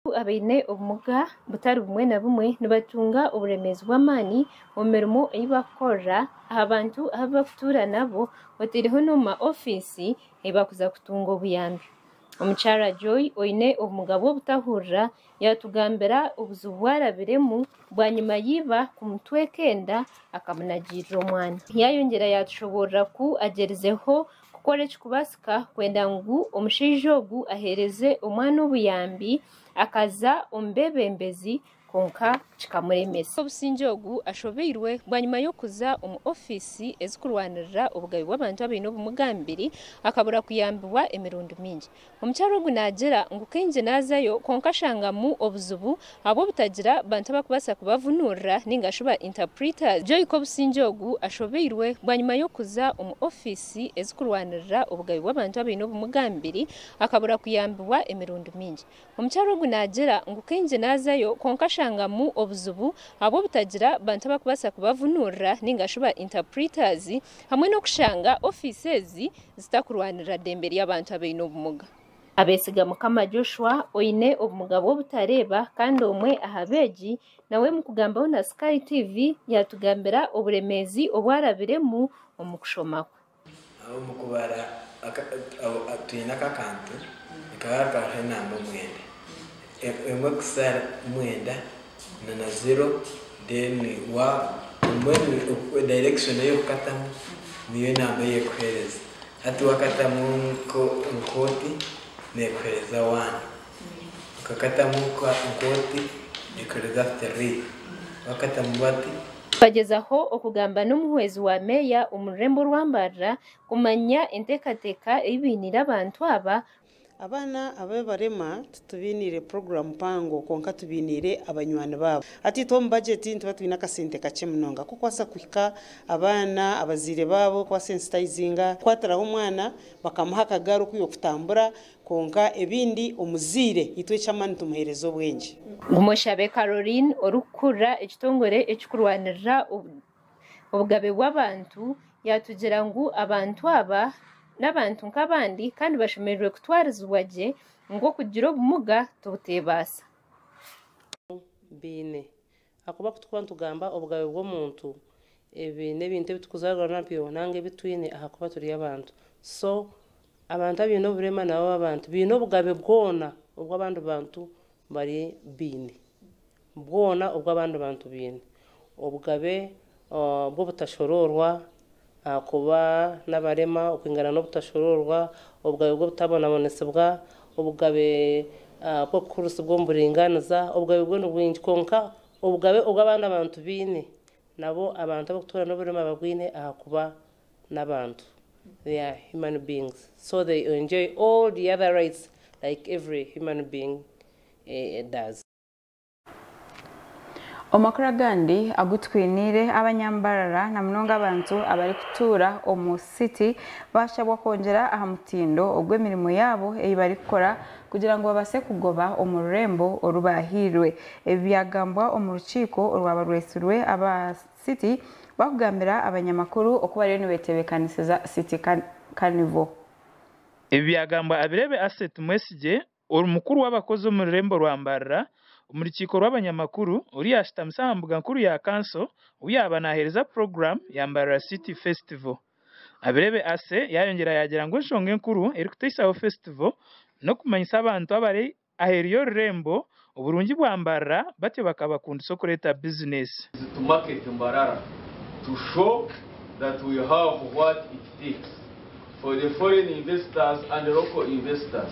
Abantu abaine obumuga butari bumwe na bumwe nibatunga oburemeezi bw'amaani omu mirimo ei barikukorera, aha bantu abu barikutuura nabo oteireho n'omu ma ofiisi ei barikuza kutunga obuyambi. Omukyara Joy oine obumuga bw'obutahurira yaatugambira obuzibu bu arabiremu bwanyima y'eiba kumutweka enda akamunagiirira omwana. Yaayongyera yaatushoboorora ku agyerizeho Kukora ekikubaasika kwenda ngu omushaija ogu aheereze omwana obuyambi, akaza omu beebembezi kwonka kikamuremesa. Obusingye ogu ashobeirwe bwanyima y'okuza omu ofiisi ezirikurwanirira obugabe bw'abantu abaine obumuga aha mibiri akabura kuyambibwa emirundi mingi. Omukyara ogu naagira ngu, Kaingi naazayo kwonka nshangamu obuzibu ahabw'obutagira bantu abarikubaasa kubavunuurira nainga shi ba interpreters. Joy Kobusingye ogu ashobeirwe bwanyima y'okuza omu ofiisi ezirikurwanirira obugabe bw'abantu abaine obumuga aha mibiri akabura kuyambibwa emirundi mingi. Omukyara ogu naagira ngu kaingi naazayo kwonka ashangamu obuzibu ahabw'obutagira bantu abarikubaasa kubavunuurira nainga shi ba interpreters hamwe n'okushanga ofiisi ezi zitakurwanirira dembe ry'abantu abaine obumuga. Abesiga Mukama Joshua oine obumuga bw'obutareeba kandi omwe aha beegi nawe omu kugambaho na Sky TV yaatugambira oburemeezi obu arabiremu omu kushoma kwe. Omu kubara twine aka akantu nikaba hariho hariho enamba mwenda, emwe kusa mwenda na ziro then wa emwe direction eyi okukatamu niyo enamba eyi ekuhereza hati wakatamu nka oti nekuhereza wani. Bakakatamu nk'oti ekiro rya Fitiriya, bakatamu bati. Bagyezaho okugamba n'omuhwezi wa meeya omu rurembo rwa mbarira kumanya enteekateeka ei bainiire abantu aba. Abaana ababi barema titubainiire puroguramu mpango kwonka tubainiire abanywani baabo. Hati itwe omu bagyeti nituba twine akasente kakye munonga k'okubaasa kuhika abaana abazaire baabo, kubasensiitayizinga, kukwatiraho omwana bakamuha akagaari okwiha okutambura, Kwonka ebindi omuzaire itwe eky'amaani tumuheereze obwengye. Ngumoshabe Caroline orikukurira ekitongore ekirikurwanirira obugabe bw'abantu yaatugira ngu abantu aba n'abantu nk'abandi kandi bashemereire kutwarizibwa gye ngu okugira obumuga tibuteebaasa. Baine Ahakuba ku tukuba nitugamba obugabe bw'omuntu, ebi n'ebintu ebi tukuzaarwa nabyo nanga ebi twine ahakuba turi abantu. So, abantu abaine oburema nabo b'abantu, baine obugabe bwona obu abandi bantu bari baine. Bwona obu abandi bantu baine. Obugabe bw'obutashoroorwa, Ahakuba n'abarema okwingana n'obutashuruurwa, obugabe bw'obutabonabonesibwa, obugabe bw'okukurisibwa omu buringaaniza, obugabe bwo ni bwingi, kwonka obugabe obu abandi abantu baine, nabwo abantu ab'okutuura n'oburema babwine ahakuba n'abantu, they are human beings, so they enjoy all the other rights like every human being does. Omu makuru agandi agu twiniire, abanyambarara na munonga abantu abarikutuura omu City bashabwa kwongyera aha mutindo ogw'emirimo yaabo ei barikukora kugira ngu babaase kugoba omu rurembo oru baahairwe. Ebi byagambwa omu rukiiko orwaba rwetsirwe aba City barikugambira abanyamakuru oku bariyo nibetebeekanisiza City Carnival. Ebi byagambwa abireebe Asset Mwesigye Ori mukuru w'abakozi omu rurembo rwa Mbarara omu rukiiko rw'abanyamakuru ori yaashutamise aha mbuga nkuru ya kanso obu yaaba naaheereza puroguramu ya Mbarara City Festival. Abirebe Ase yaayongyera yaagira ngu enshonga enkuru erikuteitsaho fesitivo n'okumanyisa abantu abari aheeru y'orurembo oburungi bwa Mbarara batyo bakabakundisa okureeta bizineesi. Is to market Mbarara to show that we have what it takes for the foreign investors and local investors.